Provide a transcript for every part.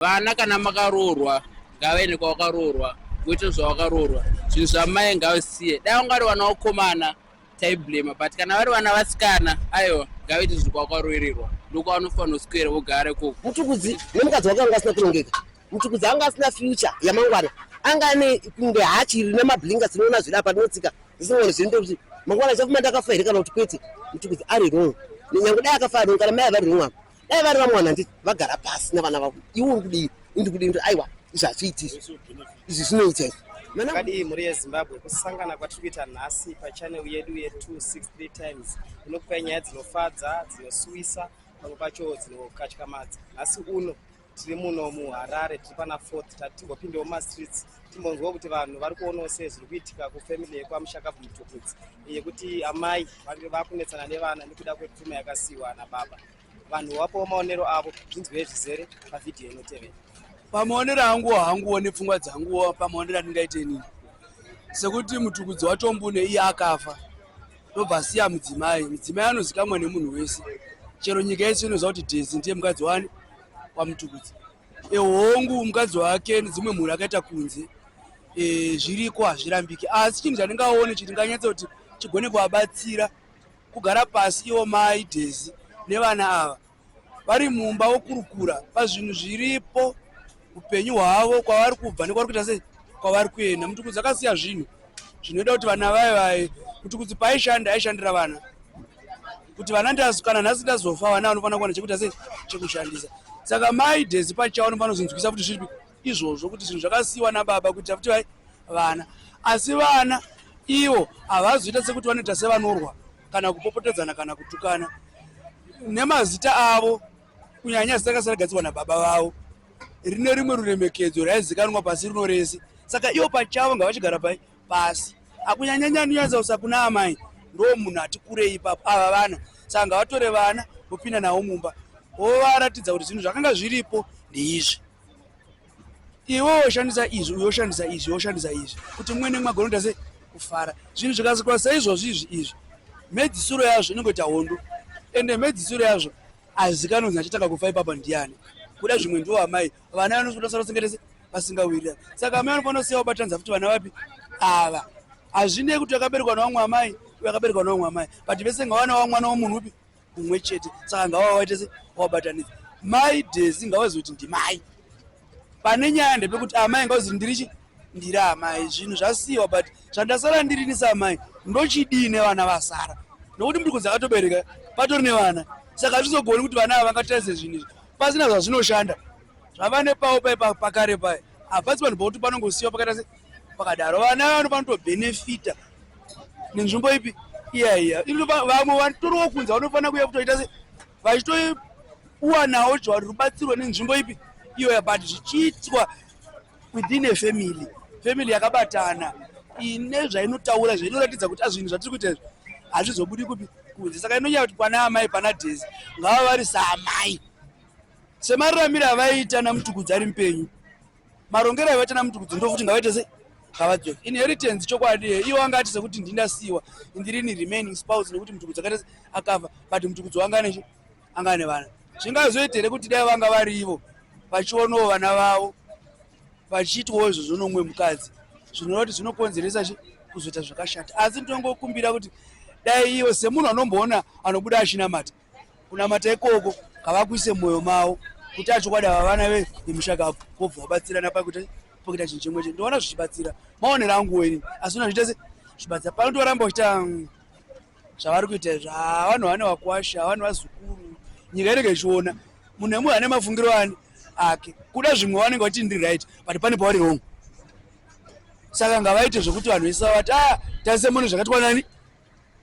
vana kana makaroorwa ngavaende kwavakaroorwa voita zvavakaroorwa zvinhu zvamai ngavisiye dai vanga vari vana vakomana taiblema but kana vari vana vasikana aiwa ngavaite zvinhu kwavakaroererwa ndokwavanofanira kuswera vogara ikoko mutukudzi nemukadzi wake vanga vasina kurongeka mutukudzi anga asina future yamangwana anga ane kunge hachi rine mablinga sinoona zviri apa rinotsika zisingone zviri ndekuti mangwana chafuma ndakafa here kana kuti kwete mutukudzi ari rong nyange dai akafa rong kana mai avari rong apa dai vari vamwana nditi vagara pasi navana vavo iwe uri kudii indi kudii ndi aiwa izvi hazviiti izvi izvi zvinoita izvi kadii mhuri yezimbabwe kusangana kwatiri kuita nhasi pachanel yedu ye263 times inokupai nyaya dzinofadza dzinosuwisa pamwe pacho dzinokatyamadza nhasi uno tiri muno muharare tiri pana fourth tati timbopindewo mumastreets timbonzwa kuti vanhu vari kuonawo sei zviri kuitika kufamily yekwamushakabvu mutukudzi yekuti amai vange vakunetsana nevana nekuda kwepfuma yakasiyiwa ana baba vanhu wapawo maonero avo zvinzwei zvizere pavhidhiyo inotevera pamaonero angu hanguwo nepfungwa dzanguwo pamaonero andingaite inini sekuti mutukudzi wacho mbune iye akafa ndobva asiya mudzimai mudzimai anozikamwa nemunhu wese chero nyika yese inoziva kuti dhezi ndiye mukadzi wani kwamutukudzi e, hongu mukadzi wake nedzimwe mhuri akaita kunze e, zviriko hazvirambiki asi chinhu chandingaone chiti nganyatsa kuti chigone kuvabatsira kugara pasi iwo mai dhezi nevana ava vari mumba vokurukura pazvinhu zviripo upenyu hwavo kwavari kubva nekwavari kuita sei kwavari kuenda mutukudzi akasiya zvinhu zvinoita kuti vana vaye vaye mutukudzi paaishanda aishandira vana kuti vana ndazukana nhasi ndazofa vana vanofanira kuwana chekuita sei chekushandisa saka mai dhezi pachavo vanofanira kuzvinzwisa kuti zviripi izvozvo kuti zvinhu zvakasiyiwa nababa kuitira kuti vai vana asi vana ivo havazoita sekuti vanoita sevanorwa kana kupopotedzana kana kutukana nemazita avo kunyanya zita rakasara gadzirwa nababa vavo rine rimwe ruremekedzo raizikanwa pasi rino rese saka ivo pachavo ngavachigara pai pasi akunyanyanya anonyadza kusa kuna amai ndo munhu ati kurei ipapo ava vana saka ngavatore vana vopinda navo mumba wovaratidza kuti zvinhu zvakanga zviripo ndeizvi iwe woshandisa izvi uyo woshandisa izvi woshandisa izvi kuti mumwe nemwe agonoita se kufara zvinhu zvikazikwa seizvozvi izvi izvi mhedzisiro yazvo inenge ita hondo ende mhedzisiro yazvo azikanonzi achitanga kufa ipapa ndiyani kuda zvimwe ndiwo amai vana vanosotasara sengetese vasingawirira saka amai vanofanira kusiya vabatanza futi vana vapi ava hazvinei kuti vakaberekwa navamwe amai uyo akaberekwa navamwe amai but vese ngavana vamwana wamunhu upi kumwe chete saka ngavawaite se wabatanidza mai desi ngavazoti ndimai pane nyaya ndepekuti amai ngavazoti ndirichi ndiri amai zvinhu zvasiyiwa but zvandasara ndirini seamai ndochidii nevana vasara nokuti mndu kunzi akatobereka patori nevana saka hazvizogoni kuti vana ava vangatarise zvinhu izvi pasina zvazvinoshanda zvava nepawo pai pakare paye hapasi vanhu pakuti panongosiyiwa pakata se pakadaro vana vanofana kutobhenefita nenzvimbo ipi iya iya ino vamwe vatoriwo kunze vanofanira kuya kutoita se vachitoiwanawo jwari rubatsirwa nenzvimbo ipi iyoya but zvichiitwa within a family family yakabatana ine zvainotaura zvainoratidza kuti azvinhu zvatiri kuita izvi hazvizobudi kupi kunze saka inonyaya kuti pana amai pana dhezi ngava vari saamai semararamiro avaiita namutukudzi ari mupenyu marongero aivaita namutukudzi ndofuti ngavaite sei ngavadzoke inheritance chokwadi iwo anga ati sekuti ndindasiyiwa ndirini remaining spouse nekuti mutukudzi akaita akafa but mutukudzi wanga anechi anga ane vana zvingazoita here kuti dai vanga vari ivo vachionawo vana vavo vachiitwawo izvo zvonomwe mukadzi zvinoreva kuti zvinokonzeresa chi kuzoita zvakashata asi ndinongokumbira kuti dai ivo semunhu anomboona anobuda achinamata kunamata ikoko kavakuise mwoyo mavo kuti achokwadi ava vana vemushakabvu kobva vabatsirana pakuti pokuita chinhu chimwe chete ndoona zvichibatsira maonero angu weni asi una zviita se zvibatsira pano tivaramba kuita mm, zvavari kuita izvo havanhu ah, vane vakwasha havanhu vazukuru nyika inenge ichiona munhu nemunhu ane mafungiro ani ake kuda zvimwe vanenge vati ndiri right but pane pavari wrong saka ngavaite zvekuti vanhu vese vavati a ah, taise munhu zvakatwa nani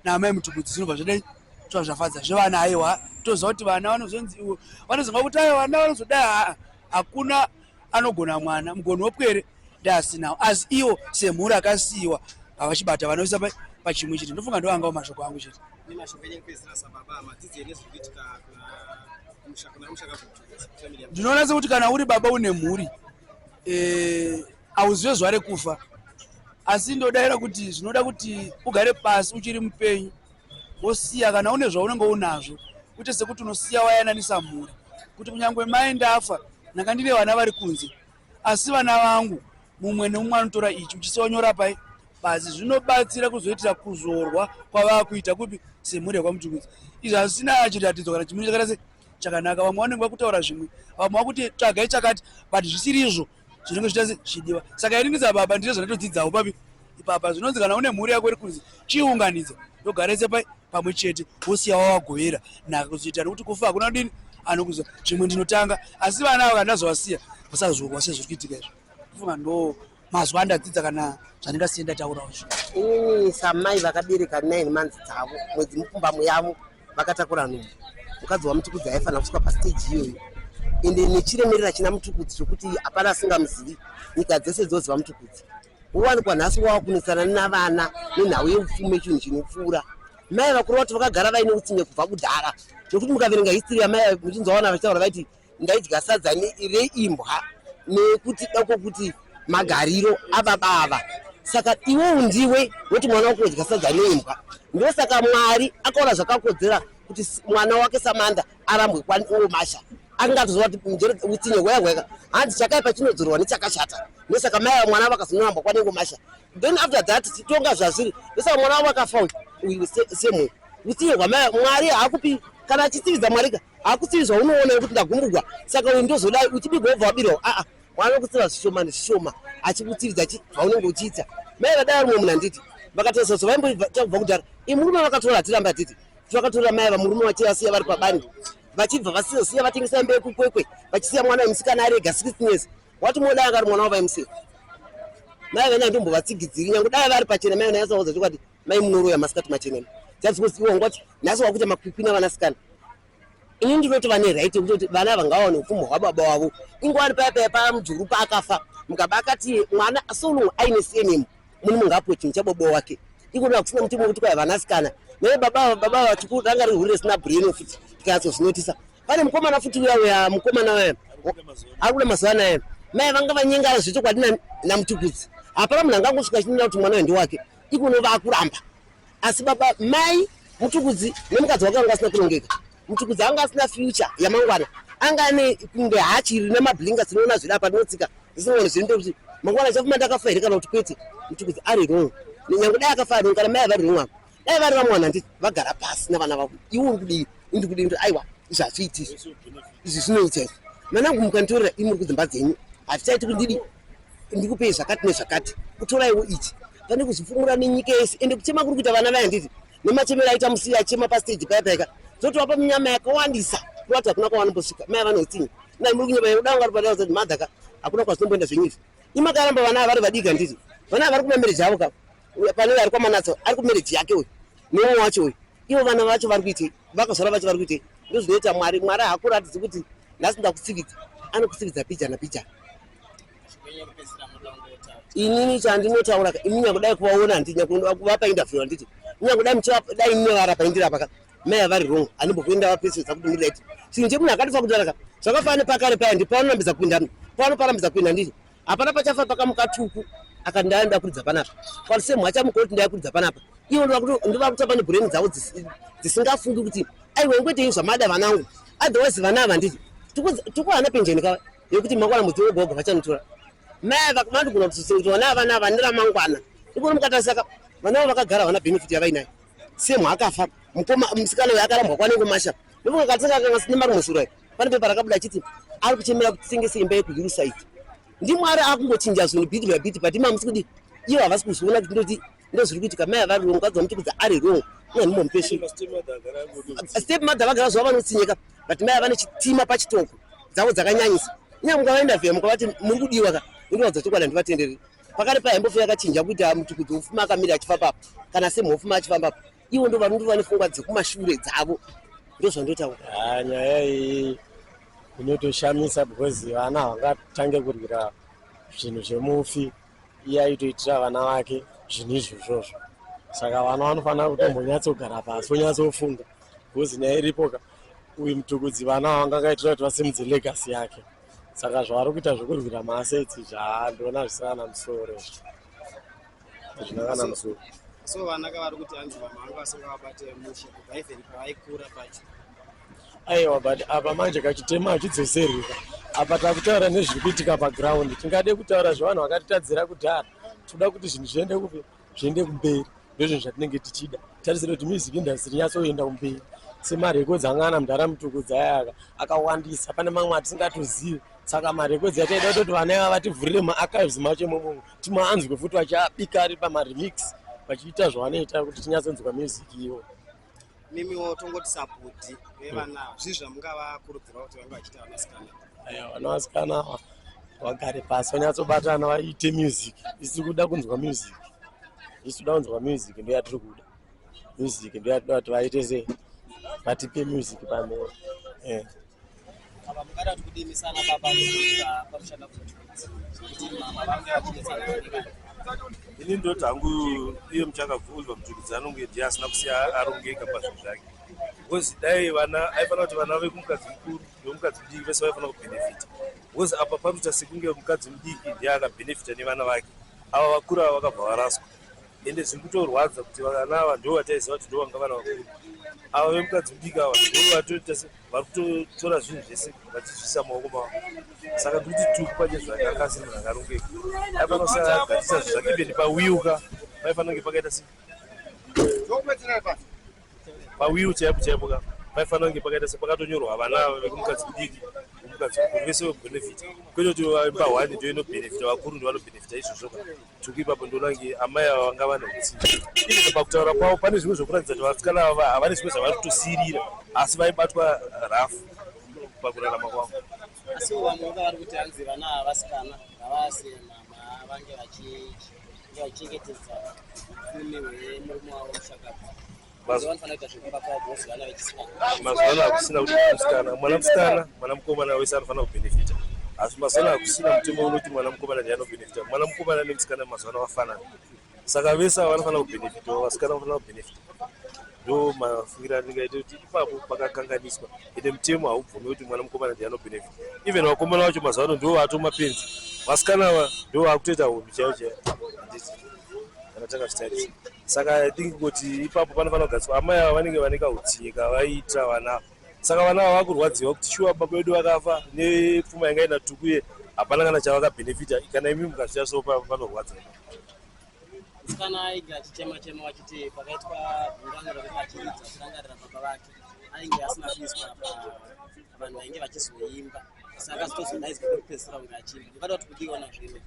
naamai mutubudzi zvinobva zvedai tova zvafadza zvevana aiwa toziva kuti vana vanozonzi iwo vanozonga kuti aiwa vana vanozodai haa hakuna anogona mwana mugoni wopwere ndaasinawo asi iwo semhuri akasiyiwa havachibata vanoisa pachimwe chete ndofunga ndoangawo mashoko angu chete ndinoona sekuti kana uri baba une mhuri eh, hauzive zvare kufa asi ndodaira kuti zvinoda kuti ugare pasi uchiri mupenyu wosiya kana une zvaunenge unazvo kuite sekuti unosiya wayananisa mhuri kuti kunyange mai ndafa ndanga ndine vana vari kunze asi vana vangu mumwe nemumwe anotora ichi uchisiya wanyora pai pasi zvinobatsira kuzoitira kuzorwa kwavaa kuita kupi semhuri yekwamutukudzi izvi hazvisina chiratidzo kana chimuri chakaita se chakanaka vamwe vanenge vakutaura zvimwe vamwe vakuti tsvagai chakati but zvisiri izvo zvinenge zvichita zvichidiwa saka ini ndiza baba ndizvo zvandatodzidzawo papi ipapa zvinonzi kana une mhuri yako iri kunzi chiunganidza ndogarese pai pamwe chete wosiya wawagovera nhaka kuzoita nekuti kufa hakuna kudini anokuza zvimwe ndinotanga asi vana avo kandazovasiya vasazogwa sezviri kuitika izvo kufunga ndo mazuva andadzidza kana zvandingasiye ndataurawo zvi samai vakabereka nine months dzavo mwedzi mupfumbamo yavo vakatakura nhumbu mukadzi wamutukudzi aifanira kusvika pastage iyoyo ende nechiremerera china mutukudzi chokuti hapana asingamuzivi nyika dzese dzoziva mutukudzi wowanikwa nhasi wava kunetsana navana nenhau yeupfumi yechinhu chinopfuura mai vakuru vacho vakagara vaine utsinye kubva kudhara nekuti mukaverenga history yamai muchinzwa vana vachitaura vaiti ndaidya sadza reimbwa nekuti dako kuti magariro ababa ava saka iwe undiwe woti mwana wako udya sadza neimbwa ndosaka mwari akaona zvakakodzera kuti mwana wake samanda arambwe kwaniwo masha angatozova kuti mjere utsinye hwaya hweka hanzi chakaipa chinodzorwa nechakashata ndosaka mai vamwana vakazonorambwa kwanengo masha then after that titonga zvazviri ndosaka mwana wavo akafa uyu semwe utsinye hwamai mwari haakupi kana achitsividza mwarika hakusiyi zvaunoona wekuti ndagumbugwa saka uyu ndozodai uchibigwa wobva wabirwa aa wave kutsiva zvishoma nezvishoma achikutsiridza chi zvaunenge uchiita mai vadai rumwe munhu handiti vakatarisa zvo vaimboita kubva kudhara i murume vakatora hatirambe hatiti kuti vakatora mai vamurume vachi vasiya vari pabani vachibva vasizosiya vatengesa mbe yekukwekwe vachisiya mwana wemusikana arega six years wati modai akari mwana wavaimusiya mai vene handiombovatsigidziri nyange dai vari pachena mai vene yasaudza chokwadi Mai munoroya masikati machena. That's because iwo ngoti nhasi wakuita makwikwi navana sikana. Ini ndinoti vane right yekutoti vana ava ngawaone upfumi hwababa wavo. Ingwani paya paya paya mujuru paakafa mukaba akati mwana so long aine surname muni mungapuwe chinhu chababa wake. Ikona kusina muti wekuti kwai vana sikana. Naye baba baba vachikuru ranga rihuri risina brain futi tikatso zvinotisa. Pane mukomana futi uya uya mukomana uya. Ari kuda mazuva anaya. Mai vanga vanyengara zvechokwadi namutukudzi. Hapana munhu angangosvika chinena kuti mwana uyu ndiwake. ikono vakuramba asi baba mai mutukudzi nemukadzi wake vanga asina kunongeka mutukudzi anga asina future yamangwana anga ane kunge hachiri nemablinga sinoona zvida patinotsika zisingoni zviri ndekuti mangwana chafuma ndakafa here kana kuti kwete mutukudzi ari wrong nyange dai akafa ari kana mai avari wrong apo dai vari vamwe vanhu handiti vagara pasi navana vavo iwe uri kudii indi kudii kuti aiwa izvi hazviiti izvi izvi zvinoita izvi manangu mukanditorera imuri kudzimba dzenyu hatichaiti kuti ndidi ndikupei zvakati nezvakati kutoraiwo ichi pane kuzvifumura nenyika yese ende kuchema kuri kuita vana vaya nditi nemachemero aita musiya achema pastage paya paika dzotovapa minyama yakawandisa kuati hakuna kwavanombosvika mai vanotinyi nai muri kunyama yekuda vanga ri padara zati madhaka hakuna kwazinomboenda zvenyizvi imakaramba vana ava vari vadika nditi vana ava vari kumamereji avo kavo Panenge ari kwaManatsa ari kumereji yake uyu neumwe wacho uyu. Ivo vana vacho vari kuitei? Vakazvara vacho vari kuitei? Ndozvinoita Mwari. Mwari hakuratidzi kuti nhasi ndakutsividza. Anokutsividza pija napija. Inini chandinotaura imi nyakudai kuvaona handiti nyakuvapa interview handiti nyakudai muchidai imi nyavara paindirapa ka mai avari wrong anombokuenda vapesesa kuti muri right chinhu chemunhu akatifa kutaraka zvakafana nepakare paya ndipaanonambidza kupinda pano parambidza kuenda ndiri hapana pachafa pakamuka tuku aka ndaya ndakuridza panapa kwalise mwacha mukoti ndayakuridza panapa ivo ndovakutamba nebhureni dzavo dzisingafungi kuti aiwe ngwetei zvamada vana angu otherwise vana ava nditi tukuhana penjeni kava yekuti makwana muti wegogo vachanitora mai vakumandigona kutsitsi kuti vana ava nava ndiramangwana ikoni mukatarisaka vana avo vakagara havana benefit yavainayo semwa akafa mukoma musikana uyo akarambwa kwanengomasha ndokunga katisaka kanga sine marumwe sura pane pepa rakabuda achiti ari kuchemera kuti tengese imba yekuhillside ndimwari akungochinja zvinhu bit by bit but mamusi kudi ivo havasi kuzviona kuti ndoti ndozviri kuitika mai avari wrong vadzi vamuti kudzi ari wrong nanhimomupesi step mother vagara zvavo vanotsinyika but mai avane chitima pachitoko dzavo dzakanyanyisa inyaya mukavaenda vheya mukavati muri kudiwa ka inoradza chokwadi handivatendereri pakare paimbofeya kachinja kuita muti kuti ufuma akamira achifambapa kana semhofuma achifambapa ivo ndo vanonge vane fungwa dzekumashure dzavo ndozvandotaura ah, nyaya iyi inotoshamisa because vana havangatange kurwira zvinhu zvemufi iye aitoitira vana vake zvinhu izvi izvozvo saka vana vanofanira kutombonyatsogara pasi vonyatsofunga because nyaya iripoka uyu mutukudzi vana havangangaitira kuti vasimudze legasi yake saka zvavari kuita zvekurwira maasetsi zvandoona zvisina namusoro Zvinangana musoro. So vana kavari kuti hanzi mama vangu vasingavabate mushe kubva even paaikura pacho. Aiwa but apa manje kachitema hachidzoseri ka. Apa takutaura nezviri kuitika paground. Tingade kutaura zvevanhu vakatitadzira kudhara. Tinoda kuti zvinhu zviende kupi zviende kumberi. Ndozvinhu zvatinenge tichida. Tarisira kuti music industry inyatsoenda kumberi. semarekodzi anga ana mudhara mutukudza ayaka akawandisa pane mamwe atisingatozivi saka marekodzi yataida kutoti vana ava vativhurire maachives macho imomomo timaanzwe futi vachabika ari pamaremix vachiita zvavanoita kuti tinyatsonzwa music ivo nemiwo tongoti sapoti vevana hmm. zvii zvamungavakurudzira kuti vange vachiita vanasikana aya vanasikana ava vagare pasi vanyatsobatana vaite music isi kuda kunzwa music isi kuda kunzwa music ndo yatiri kuda music ndo yatida kuti vaite se vatipe music pamhera eh. ini ndoti hangu iye muchakabvunzwa mudzukudzi anonge ndiye asina kusiya arongeka pazvinhu zvake because dai vana aifanira kuti vana vekumukadzi mukuru vemukadzi mudiki vese vaifanira kubhenefita because apa panoita sekunge mukadzi mudiki ndiye akabhenefita nevana vake ava vakuru ava vakabva varaswa ende zviri kutorwadza kuti vana ava ndo vataiziva kuti ndo vanga vana vakuru ava vemukadzi mudiki ava ndo vatoita vari kutotora zvinhu zvese vachizvisa maoko mavo saka tikuti tiri kupanye zvake anga asiri munhu akarongeka aipanosagatisa zvi zvake ibeni pawiuka paifanira kunge pakaita se pawiu chaipo chaipo ka paifanira kunge pakaita se pakatonyorwa vana vekumukadzi mudiki umukadzi mukuru vese vekubenefita kwete kuti vaimbahwani ndoinobenefita vakuru ndovanobenefita izvozvo ka Tuku ipapo ndoona kunge amai ava vanga vane hutsinye ii pakutaura kwavo pane zvimwe zvekuratidza kuti vasikana ava havane zvimwe zvavari kutosiirira asi vaibatwa rafu pakurarama kwavo asi vamwe vanga vari kuti hanzi vana havasikana havasi mama vange vachinge vachengetedza murume wemurume wavo mushakabva mazuva anofanira zvekuimba kwavo bosi vana vechisikana mazuva ano hakusina kuti mwanamusikana mwanamusikana mwana mukomana wese anofanira kubhenefita asi mazuva ano hakusina mutemo unoti mwana mukomana ndiye anobhenefita mwana mukomana nemusikana mazuva ano vafanana saka vese ava vanofanira kubhenefita vasikana vanofanira kubhenefita ndo mafungira anenge aita kuti ipapo pakakanganiswa ende mutemo haubvume kuti mwana mukomana ndiye anobhenefita even vakomana vacho mazuva ano ndo vaatomapenzi vasikana ava ndo vakutoita hunhu chaiyo chaiyo kana takazvitarisa saka i think kuti ipapo panofanira kugariswa amai ava vanenge vane kautsinye kavaita vana saka vana ava vakurwadziwa kuti shuwa baba vedu vakafa nepfuma yanga ina tuku ye hapana kana chavakabhenefita kana imi mukazviya so panorwadza musikana aige achichema chema vachiti pakaitwa gungano rekuti achiridza kurangarira baba vake ainge asina kuiswa vanhu vainge vachizoimba saka zitozodaidzwa kwekupedzisira kunge achiimba ndikada kuti kudiwa nazvino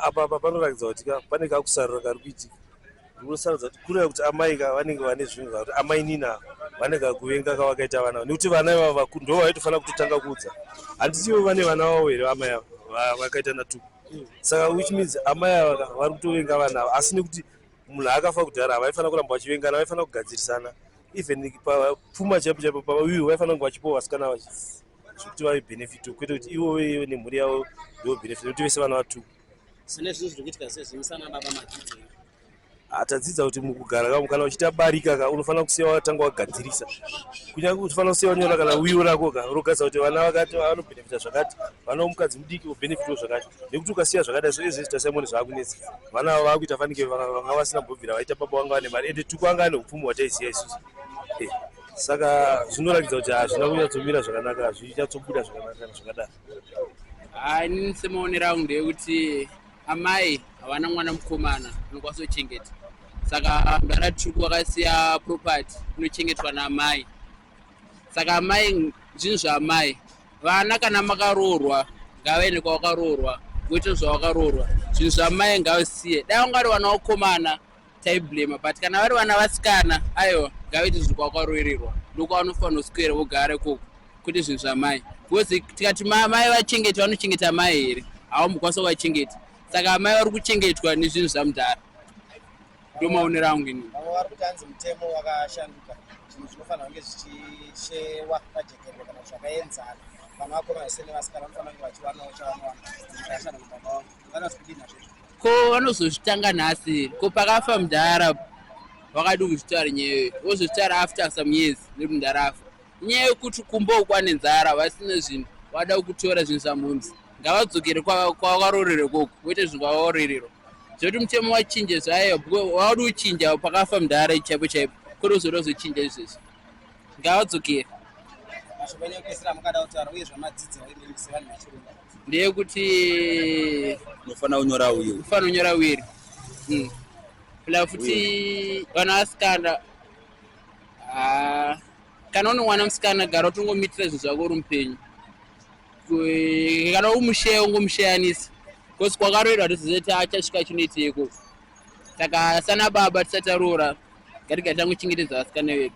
apa apa panoratidza kuti ka pane kakusarura kari kuitika ndinosarudza kuti kureva kuti amai ka vanenge vane zvinhu zvakuti amai nina vane kakuvenga kavakaita vana avo nekuti vana ivavo vakuru ndo vaitofanira kutotanga kuudza handiti ivo vane vana vavo here amai avo vakaita natuku saka which means amai ava ka vari kutovenga vana avo asi nekuti munhu akafa kudhara havaifanira kuramba vachivengana vaifanira kugadzirisana even pfuma chaipo chaipo pavaiwo vaifanira kunge vachipowa vasikana vachii zvekuti vave benefit kwete kuti ivo veive nemhuri yavo ndivo benefit nekuti vese vana vatu sine zvinhu zviri kuitika sezvimusana baba madzidze atadzidza kuti mukugara kavo kana uchiita barika ka unofanira kusiya watanga wagadzirisa kunyange kuti ufanira kusiya wanyora kana wiwo rako ka rogadza kuti vana vakati vanobenefita zvakati vana vomukadzi mudiki vobenefitwo zvakati nekuti ukasiya zvakadai zvoe zvese tasaimoni zvaakunetsa vana avo vakuita fanike vanga vasina mbobvira vaita baba vanga vane mari ende tuku anga ane upfumi hwataiziva isusu eh. saka zvinoratidza kuti hazvina kunyatsobira zvakanaka hazvinyatsobuda zvakanaka zvakadaro ini semaonero angu ndeyekuti amai havana mwana mukomana anokwanisa kuchengeta saka mudara tuku wakasiya property inochengetwa naamai saka amai zvinhu zvaamai vana kana makaroorwa ngavaende kwavakaroorwa voita zvavakaroorwa zvinhu zvaamai ngavasiye dai vangari vana vakomana taiblema but kana vari vana vasikana aiwa ngavaite zvinhu kwakwaroererwa ndokwavanofanira kuswera vogara ikoko kwete zvinhu zvamai because tikati mai vachengeti vanochengeta mai here havambokwanisa kuvachengeti saka amai vari kuchengetwa nezvinhu zvamudhara ndo maonero angu ini vari kuti anzi mutemo wakashanduka zvinhu zvinofanira kunge zvichishewa pajekerwa kana zvakaenzana vana vakomana sene vasikana vanofanira kunge vachiwanawo chavanowana zikashanda mubaba wavo vanozi kudinazvezvo ko vanozozvitanga nhasi ko pakafa mudhara vakadi kuzvitaura nyewe vozozvitaura after some years nekuti mudhara afa nyaya yekuti kumba ukwane nzara vasina zvinhu vada kutora zvinhu zvamhunzi ngavadzokere kwavarorere koko voite zvinhu kwavaorerero zvekuti mutemo wachinje zvayo vaudi kuchinja pakafa mudhara chaipo chaipo kuri uzoda kuzochinja izvezvi Ngavadzokere. Mashoko enyu ekupedzisira amungada kutaura uye zvamadzidza uye mimi sevanhu vechirungu. Ndeyekuti Unofanira kunyora uyu. unofanira kunyora wiri. Mm. Pla futi vana vasikana ah, kana une mwana musikana gara utongomitira zvinhu zvako uri mupenyu. Ku- Kana umusheya ungomusheyanisa. Kosi kwakaroerwa toziva kuti achasvika chinoiteko. saka sana baba tisati taroora ngatigare tanguchengetedza vasikana vedu.